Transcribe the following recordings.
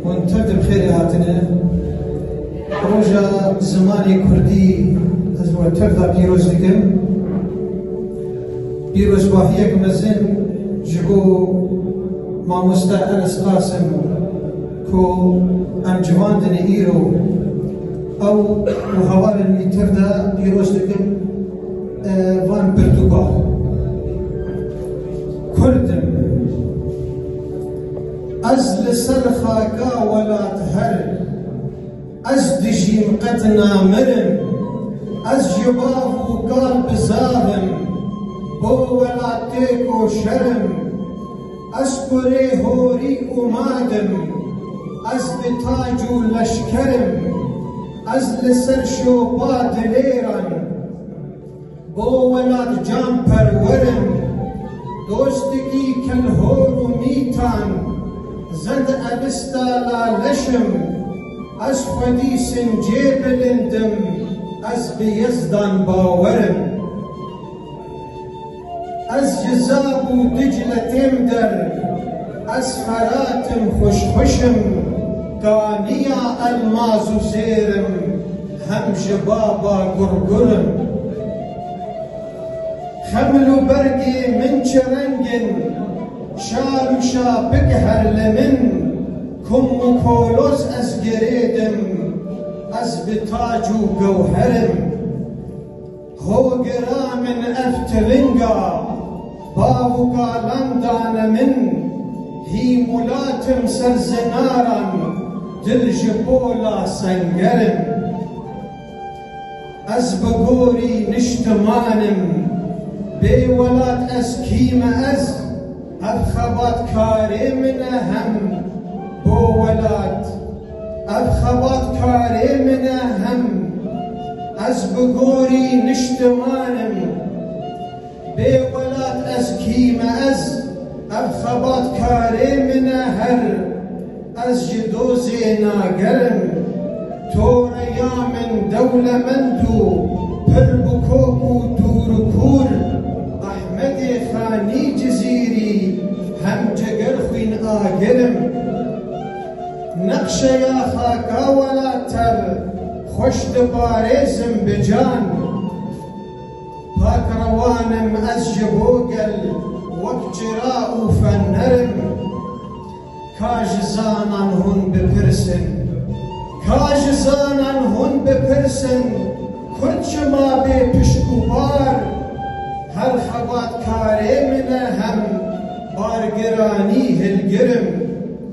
Hûn tev di bi xêrê hatine. Roja zimanê kurdî ez we tev de pîroz dikim. Pîrozbahiyek mezin ji bo mamoste Enes Qasim ku em civandine îro ew û hevalên wî tev de pîroz dikim van pirtûkan. Kurd im. Ez li ser xaka welat herim. Ez dijîm qet namirim. Ez ji bav û kal bi zav im. Bo welat tê koşer im. Ez kurê horî û mad im. Ez bi tac û leşker im. Ez li ser şopa dilêran. Bo welatcanperwerin, dostikî kelhor û mîtan, ze di ebista la leşim, ez xwedî sincê bilind im, ez bi Yezdan bawer im. Ez ji Zab û Dicle têm der, ez Ferat im, xwişxwişim, kaniya elmaz û zêr im, Hem ji ba ba gur gur in. Xemil û bergê min çi reng in. Şar û şapik her li min. Kum û koloz ez girêd im. Ez bi tac û gewher im. Ho gira min ev tiringa, bavûka lan dane min, hîm û latim ser zinaran, dil ji pola sengerim. Ez bi gorî niştimanim, bê welat ez kî me ez, ev xebatkarê min e hem bo welat. Ev xebatkarê min e hem ez bi gorî niştiman im. Bê welat ez kî me ez ev xebatkarê min e her ez ji dozê nager im. To re ya min dewlemend û pir bi kok û dûr û kûr Ehmedê Xanî Cizîrî hem ceger xwîn agir im. Nexşeya xaka welater xweş diparêzim bi can. Pak rewan im ez ji bo gel wek çira û fener im. Ka ji zanan hûn bipirsin Ka ji zanan hûn bipirsin Kurd çima bê pişk û par Her xebatkarê min e hem bargiranî hilgir im.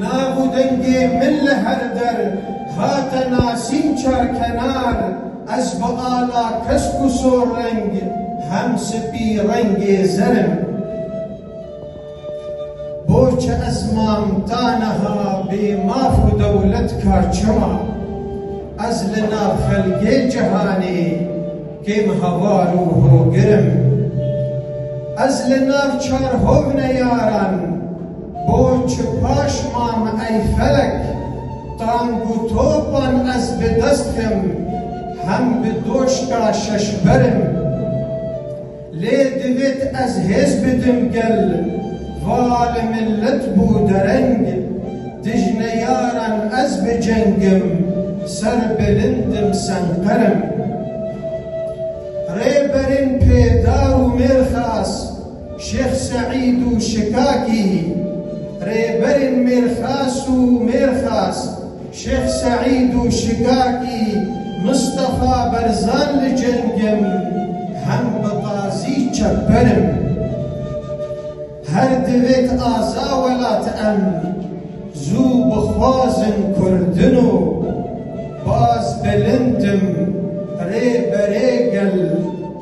Nav û dengê min li her der hate nasîn Çarkenar ez bi ala kesk û sorreng hem spî rengê zer im. Boçi ez mam ta niha bê maf û dewlet ka çima? Ez li nav xelgê cihanê. Kêm heval û hogir im. Ez li nav çar hovne yaran bo çi paş mam ey felek tang û topan ez bi dest dim hem bi doşka şeşber im. Lê divêt ez hêz bidim gel. Va li milet bû dereng, dij neyaran ez bi cengim, ser bilindim senqerim. Rêberên Pêdar û Mêrxas, Şêx Seîd û Şikakî, Rêberên Mêrxas û Mêrxas, Şêx Seîd û Şigakî Mistefa Berzan Li ceng im, hem bi qazî çepber im. Her divêt aza welat em zû bixwazin kurdin û baz bilind im rê berê gel.